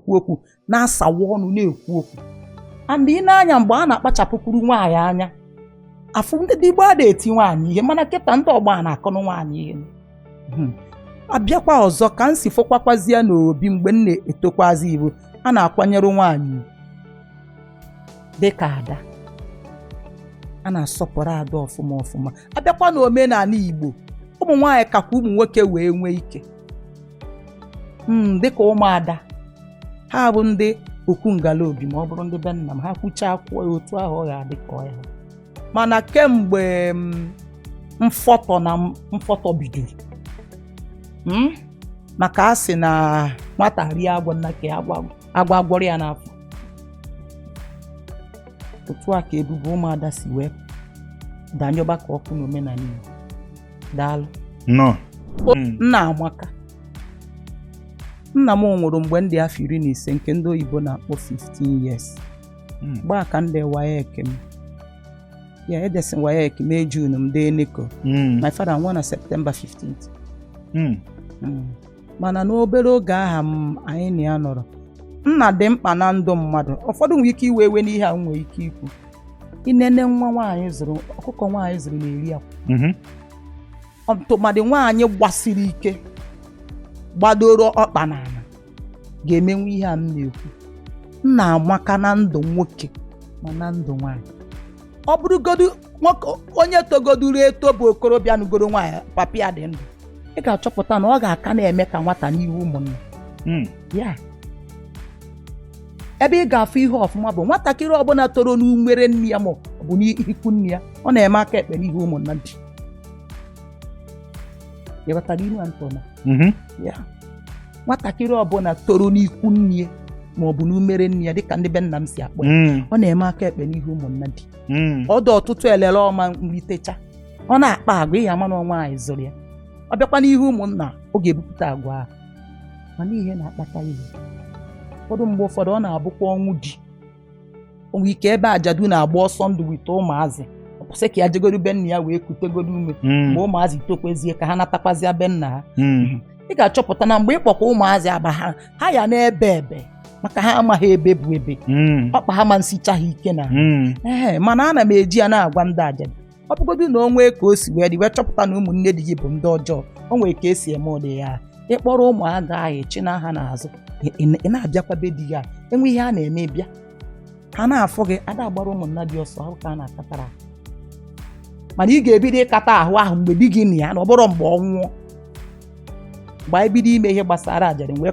na-ekwu okwu na-asawa ọnụ na-ekwu okwu and ị nee anya mgbe a na-akpachapụkwuru nwaanyị anya afụ ndị gboo ada eti nwaanyị ihe mana kịta ndị ọgbọ a na-akụnụ nwaanyị ihe Hmm. a bịakwa ọzọ ka m si fụkwakwazie n'obi mgbe m na-etokwazi bụ a na-akwanyere nwaanyị ugwu. dịka ada a na-asọpụrụ ada ọfụma ọfụma a bịakwa n'omenala igbo ụmụ nwaanyị kakwa ụmụ nwoke wee nwee ike hmm, dịka ụmụada ha bụ ndị okwu ngala obi ma ọ bụrụ ndị be nna m ha kwuchaa okwu ya otu ahụ ọ ga-adị ka ọ ya mana kemgbe hmm, mfọtọ na mfọtọ bidoro hmm, maka a sị na nwata rie agwa nna ka agwa agwa gwọrọ ya n'afọ otu a ka ebube ụmụada si wee danyụba ka ọkụ n'omenala Igbo daalụ nnọọ hmm. nna amaka nna m nwụrụ mgbe m dị afọ iri na ise nke ndị oyibo na-akpọ 15 years hmm. gbaa ka m dị WAEC m ya edesị WAEC May June m dee NECO hmm. my father nwụọ na September 15th mana n'obere oge ahụ anyị na ya nọrọ nna dị mkpa na ndụ mmadụ ụfọdụ nwere ike iwe iwe n'ihe a m nwere ike ikwu inene nwa nwaanyị zụrụ ọkụkọ nwaanyị zụrụ na-eri akwa Mhm. tụmadị nwaanyị gbasiri ike gbadoro ọkpa n'ala ga-emenwu ihe a m na-ekwu nna amaka na ndụ nwoke ma na ndụ nwaanyị ọ bụrụgodu nwoke onye togoduru eto bụ okorobịa nụgoro nwaanyị papa ya dị ndụ ị ga-achọpụta na ọ ga-aka na-eme ka nwata n'ihu ụmụnna Mm. ya ebe ị ga-afụ ihe ọfụma bụ nwatakịrị ọbụla toro n'umere nne ya ma ọ bụ n'ikwu nne ya ọ na-eme aka ekpe n'ihu ụmụnnadi ị ghọtara ilu a m tụ na Mhm. ya nwatakịrị ọbụla toro n'ikwu nne ma ọ bụ n'umere nne ya dịka ndị be nna m si akpọ ya mm. ọ na-eme aka ekpe n'ihu ụmụnnadi mm. ọ dụ ọtụtụ elele ọ ma nritecha ọ na-akpa agwa ị ya ama na ọ nwaanyị zụrụ ya ọ bịakwa n'ihu ụmụnna ọ ga-ebupụta agwa ahụ mana ihe na-akpata ihe ụfọdụ mgbe ụfọdụ ọ na-abụkwa ọnwụ di o nwe ike ebe ajadu na-agba ọsọ ndụ with ụmụazị o kwu sị ka ya jegodu be nna ya wee kutegodu ume Mm. mgbe ụmụazị tokwezie ka ha natakwazịa be nna ha Mm. ị ga-achọpụta na mgbe ị kpọkwa ụmụazị agba ha ha ya na-ebe ebe maka ha amaghị ebe bụ ebe Mm. ọkpa ha ma nsicha ha ike na Mm. ee mana ana m eji ya na-agwa ndị ajadu ọ bụgodu na o nwee ka o si wee dị wee chọpụta na ụmụnne di gị bụ ndị ọjọọ o nwere ka e si eme ụdị ya ị kpọrọ ụmụaka ahụ ị chịna ha n'azụ ị- ị- ị na-abịakwa be di gị e nwee ihe a na-eme ị bịa ha na-afụ gị ada agbara ụmụnnadi ọsọ ahụ ka a na-akatara ahụ. mana ị ga-ebido ịkata ahụ ahụ mgbe di gị nọ ya na ọ bụrọ mgbe ọ nwụọ mgbe ahụ ị bido ime ihe gbasara ajadu wee